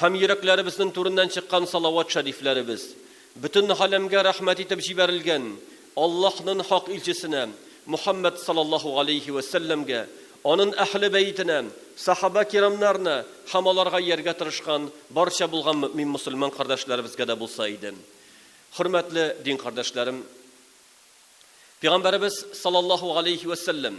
Һәм йөрәкләребезнең түреннән чыккан салават шәрифләребез, бөтен галәмгә рәхмәт итеп җибәрелгән Аллаһнын хак илчесенә Мухәммәд салаллаһу галәйһи вә сәлләмгә, анын әһле бәетенә, сахабә кирамнарына һәм аларга ияргә тырышкан барча булган мөэмин мосылман кардәшләребезгә дә булса иде. Хөрмәтле дин кардәшләрем! Пигамбәребез салаллаһу галәйһи вә сәлләм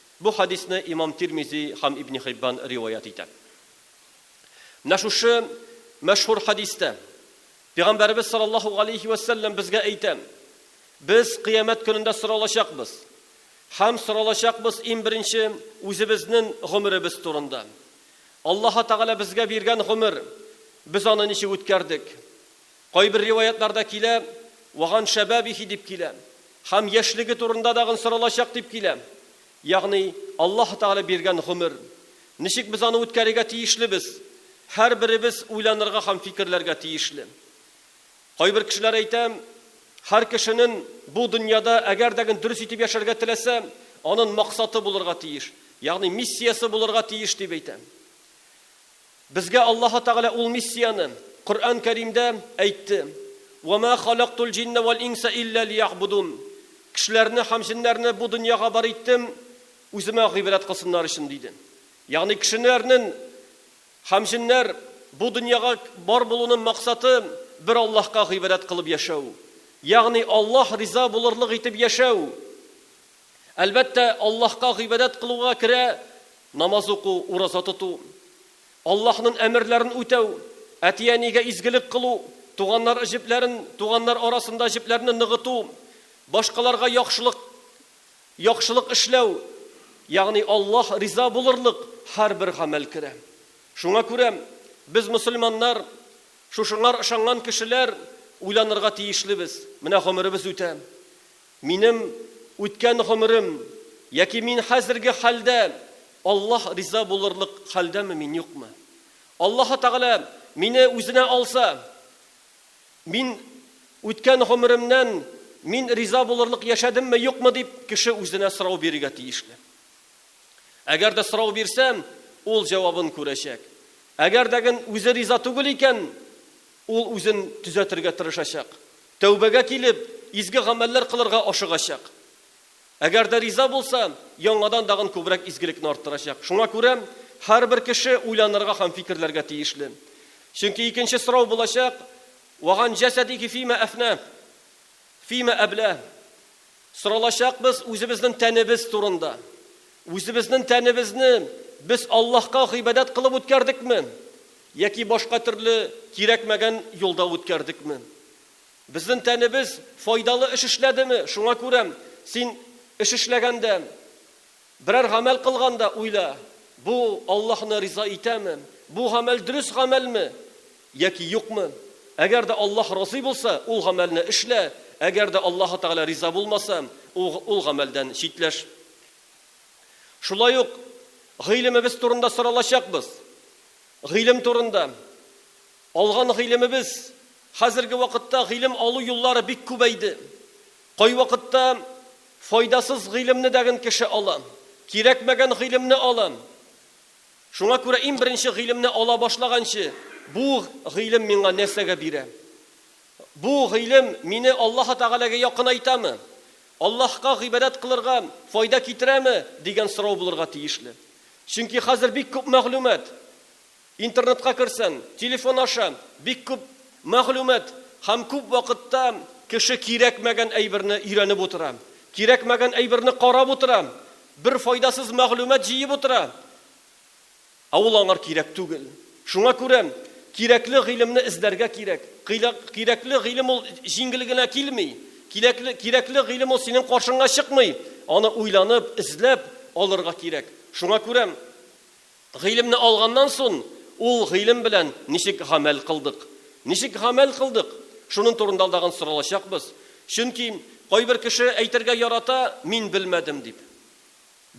Бу хәдисне имам Тирмизи һәм Ибни Хиббан риваять итә. Менә шушы мәшһүр хәдистә Пигамбәребез салаллаһу галәйһи вә сәлләм безгә әйтә, Без кыямәт көнендә соралачакбыз. Һәм соралачакбыз ин беренче үзебезнен гомеребез турында. Аллаһа Тәгалә безгә биргән гомер, без аны ничек үткәрдек? Кайбер риваятларда килә, Ваган шәбабихи дип килә. Һәм яшьлеге турында дагын соралачак дип килә. Ягъни, Аллаһы Тәгалә биргән гомер. Ничек без аны үткәрергә тиешлебез? Һәрберебез уйланырга һәм фикерләргә тиешле. Кайбер кешеләр әйтә, Һәр кешенен бу дөньяда әгәр дәген дөрес итеп яшәргә теләсә, анын максаты булырга тиеш, ягъни миссиясе булырга тиеш, дип әйтә. Безгә Аллаһы Тәгалә ул миссияне Коръән Кәримдә әйтте, Вә мә халәктул җиннә вәл инсә илля лиягъбудун, Кешеләрне һәм җеннәрне бу дөньяга бар иттем, Үземә гыйбрәт кылсыннар өчен, диде. Ягъни кешенәрнен һәм җеннәр бу дөньяга бар булуның максаты бер Аллаһка гыйбрәт кылып яшәү, ягъни Аллаһ риза булырлык итеп яшәү, Әлбәттә, Аллаһка гыйбадәт кылуга керә намаз уку, ураза тоту, Аллаһның әмерләрен үтәү, әти-әнигә изгелек кылу, туганнар җепләрен, туганнар арасында җепләрне ныгыту, башкаларга яхшылык яхшылык эшләү, ягъни Аллаһ риза булырлык һәрбер гамәл керә. Шуңа күрә без, мөселманнар, шушыңар ышанган кешеләр, уйланырга тиешлебез, менә гомеребез үтә, Минем үткән гомерем яки мин хәзерге хәлдә Аллаһ риза булырлык хәлдәме мин, юкмы? Аллаһы Тәгалә мине үзенә алса, мин үткән гомеремнән мин риза булырлык яшәдемме, юкмы дип кеше үзенә сорау бирергә тиешле. Әгәр дә сорау бирсә, ул җавабын күрәчәк. Әгәр дә ген үзе риза түгел икән, Ул үзен төзәтергә тырышачак, тәүбәгә килеп, изге гамәлләр кылырга ашыгачак. Әгәр дә риза булса, яңадан дагын күбрәк изгелекне арттырачак. Шуңа күрә һәрбер кеше уйланырга һәм фикерләргә тиешле. Чөнки икенче сорау булачак, Вә ган җәсәдиһи фима әфнә, фима әблә. Соралачакбыз үзебезнең тәнебез турында. Үзебезнең тәнебезне без Аллаһка гыйбадәт кылып үткәрдекме? Яки башка төрле кирәкмәгән юлда үткәрдекме? Безнен тәнебез файдалы эш эшләдеме? Шуңа күрә син эш эшләгәндә, берәр гамәл кылганда уйла, Бу Аллаһны риза итәме? Бу гамәл дөрес гамәлме яки юкмы? Әгәр дә Аллаһ разый булса, ул гамәлне эшлә, әгәр дә Аллаһы Тәгалә риза булмаса, ул гамәлдән читләш. Шулай ук гыйлемебез турында соралачакбыз. Гыйлем турында. Алган гыйлемебез, Хәзерге вакытта гыйлем алу юллары бик күбәйде. Кайвакытта файдасыз гыйлемне дәген кеше ала, кирәкмәгән гыйлемне ала. Шуңа күрә ин беренче гыйлемне ала башлаганчы, бу гыйлем миңа нәрсәгә бирә? Бу гыйлем мине Аллаһы Тәгаләгә якынайтамы? Аллаһка гыйбадәт кылырга файда китерәме? дигән сорау булырга тиешле. Чөнки хәзер бик күп мәгълүмат, интернетка керсәң, телефон аша бик күп мәгълүмат һәм күп вакытта кеше кирәкмәгән әйберне өйрәнеп утыра, кирәкмәгән әйберне карап утыра, бер файдасыз мәгълүмат җыеп утыра. Ә ул аңар кирәк түгел. Шуңа күрә кирәкле гыйлемне эзләргә кирәк. Кирәкле гыйлем ул җиңел генә килми. Кирәкле гыйлем ул синең каршыңа чыкмый. Аны уйланып, эзләп алырга кирәк. Шуңа күрә гыйлемне алганнан сон, ул гыйлем белән ничек гамәл кылдык? Ничек гамәл кылдык? Шунын турында тагын соралачакбыз. Чөнки кайбер кеше әйтергә ярата, мин белмәдем дип.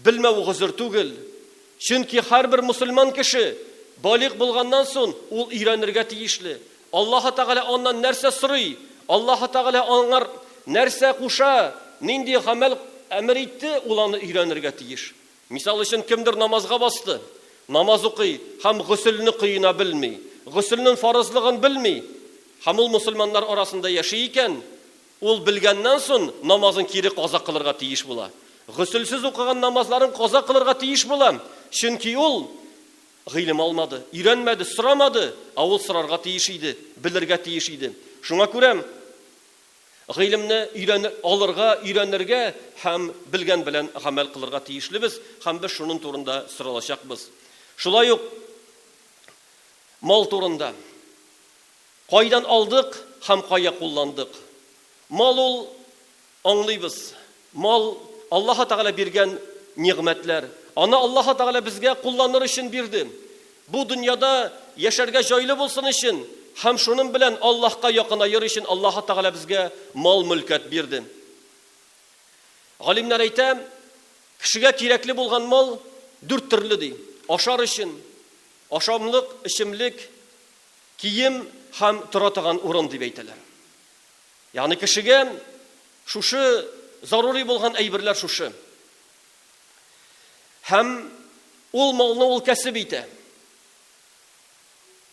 Белмәү гозер түгел. Чөнки һәрбер мөселман кеше, балигъ булганнан сон, ул өйрәнергә тиешле. Аллаһы Тәгалә аннан нәрсә сорый, Аллаһы Тәгалә аңар нәрсә куша, нинди гамәл әмер итте, ул аны өйрәнергә тиеш. Мисал өчен, кемдер намазга басты, намаз укый һәм гөселне коена белми, гөселнен фарызлыгын белми һәм ул мөселманнар арасында яши икән, Ул белгәннән сон намазын кире каза кылырга тиеш була. Гөселсез укыган намазларын каза кылырга тиеш була, чөнки ул гыйлем алмады, өйрәнмәде, сорамады, ә ул сорарга тиеш иде, белергә тиеш иде. Шуңа күрә гыйлемне өйрәнер, алырга, өйрәнергә һәм белгән белән гамәл кылырга тиешлебез һәм без шунын турында соралачакбыз. Шулай ук мал турында. Кайдан алдык һәм кая кулландык? Мал ул, аңлыйбыз, мал, Аллаһы Тәгалә биргән нигъмәтләр. Аны Аллаһы Тәгалә безгә кулланыр өчен бирде. Бу дөньяда яшәргә җайлы булсын өчен һәм шуның белән Аллаһка якынаер өчен Аллаһы Тәгалә безгә мал-мөлкәт бирде. Галимнәр әйтә, кешегә кирәкле булган мал дүрт төрле, ди, ашар өчен, ашамлык, эчемлек, Кием һәм тора торган урын дип әйтәләр. Ягъни кешегә шушы зарури булган әйберләр шушы. Һәм ул малны ул кәсеп итә.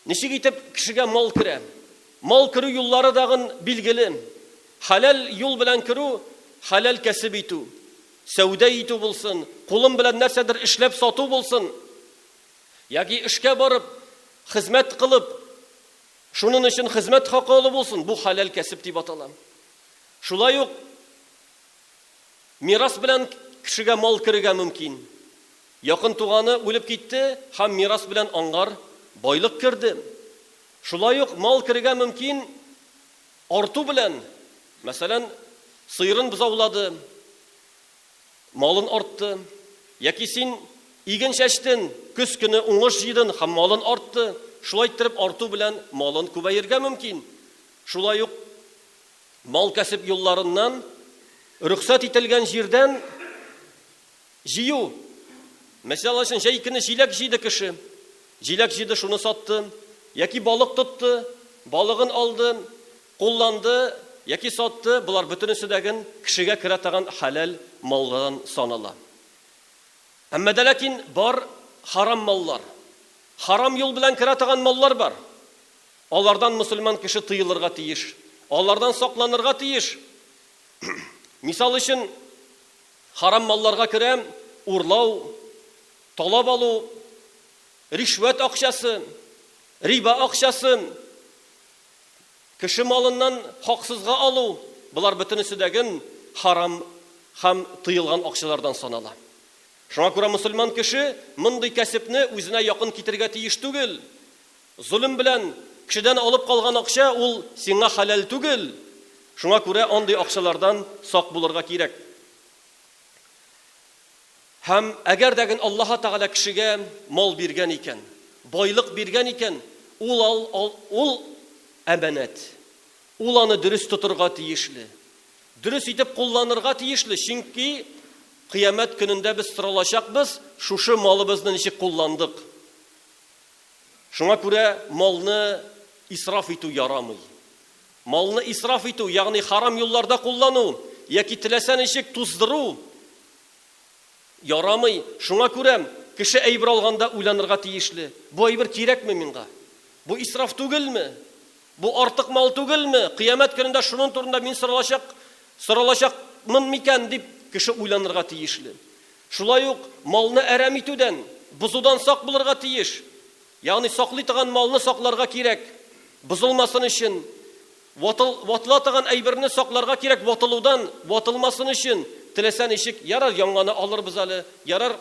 Ничек итеп кешегә мал керә? Мал керү юллары дагын билгеле. Хәләл юл белән керү, хәләл кәсеп итү. Сәүдә итү булсын, кулым белән нәрсәдер эшләп сату булсын. Яки эшкә барып, хезмәт кылып, шунын өчен хезмәт хакы алу булсын, бу хәләл кәсеп дип атала. Шулай ук мирас белән кешегә мал керергә мөмкин. Якын туганы үлеп китте һәм мирас белән аңгар байлык керде. Шулай ук мал керергә мөмкин арту белән, мәсәлән, сыерын бзаулады, Малын артты. Яки син иген чәчтен, көз көне уңыш җыйдын һәм малын артты, шулай иттереп арту белән малын күбәергә мөмкин. Шулай ук мал-кәсеп юлларыннан, рөхсәт ителгән җирдән җыю. Мәсьәл өчен, җәй көне җиләк җыйды кеше. Җиләк җыйды, шуны сатты. Яки балык тотты, балыгын алды, Кулланды яки сатты, болар бөтенесе дә ген кешегә керә таган хәләл маллардан санала. Әмма дә ләкин бар харам маллар. Харам юл белән керә таган маллар бар. Алардан мөселман кеше тыелырга тиеш, алардан сакланырга тиеш. Мисал өчен, харам малларга керә урлау, талап алу, ришвәт акчасы, риба акчасы. Кеше малыннан хаксызга алу, болар бөтенесе дә гөн харам һәм тыелган акчалардан санала. Шуңа күрә мөселман кеше мондый кәсепне үзенә якын китерергә тиеш түгел. Золем белән кешедән алып калган акча ул сиңа хәләл түгел, шуңа күрә андый акчалардан сак булырга кирәк. Һәм әгәр дә гэн Аллаһы Тәгалә кешегә мал биргән икән, байлык биргән икән, ул ал, ал, ул әманәт. Ул аны дөрес тотырга тиешле. Дөрес итеп кулланырга тиешле, чөнки Кыямәт көнендә без соралачакбыз, шушы малыбызны ничек кулландык. Шуңа күрә малны исраф итү ярамый. Малны исраф итү, ягъни харам юлларда куллану яки теләсә ничек туздыру, Ярамый, шуңа күрәм, кеше әйбер алганда уйланырга тиешле, бу әйбер кирәкме миңга? Бу исраф түгелме? Бу артык мал түгелме? Кыямәт көнендә шунын турында мин соралачак соралачакмын микән? дип, кеше уйланырга тиешле. Шулай ук малны әрәм итүдән, бозудан сак булырга тиеш. Ягъни саклый торган малны сакларга кирәк, бозылмасын өчен. Ватыл, ватыла таган әйберне сакларга кирәк ватылудан, ватылмасын өчен, теләсә ничек, ярар яңаны алырбыз әле, ярар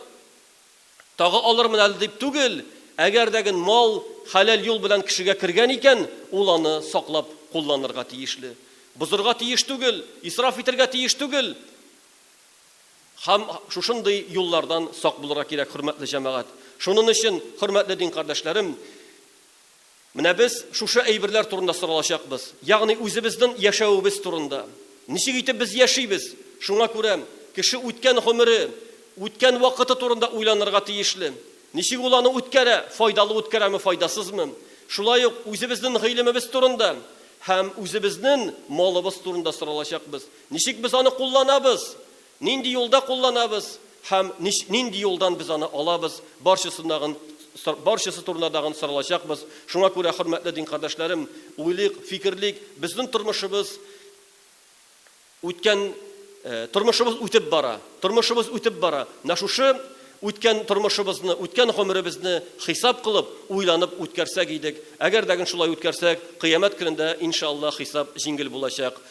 тагы алырмын әле дип түгел, әгәр дә ген мал хәләл юл белән кешегә кергән икән, ул аны саклап кулланырга тиешле. Бозырга тиеш түгел, исраф итергә тиеш түгел. Хәм шушындый юллардан сак булырга кирәк, хөрмәтле җәмәгать. Шунын өчен, хөрмәтле дин кардәшләрем, Менә без шушы әйберләр турында соралачакбыз, ягъни үзебезнен яшәвебез турында. Ничек итеп без яшибез? Шуңа күрә кеше үткән гомере, үткән вакыты турында уйланырга тиешле. Ничек ул аны үткәрә, файдалы үткәрәме, файдасызмы? Шулай ук үзебезнен гыйлемебез турында һәм үзебезнен малыбыз турында соралачакбыз. Ничек без аны кулланабыз? Нинди юлда кулланабыз һәм нинди юлдан без аны алабыз, барчасындагын барчасы турында дагын соралачакбыз. Шуңа күрә, хөрмәтле дин кардәшләрем, уйлыйк, фикерлик, безнең тормышыбыз үткән тормышыбыз үтеп бара, тормышыбыз үтеп бара, менә шушы үткән тормышыбызны, үткән гомеребезне хисап кылып, уйланып үткәрсәк идек, әгәр дә гын шулай үткәрсәк, кыямәт көнендә, иншааллаһ, хисап җиңел булачак.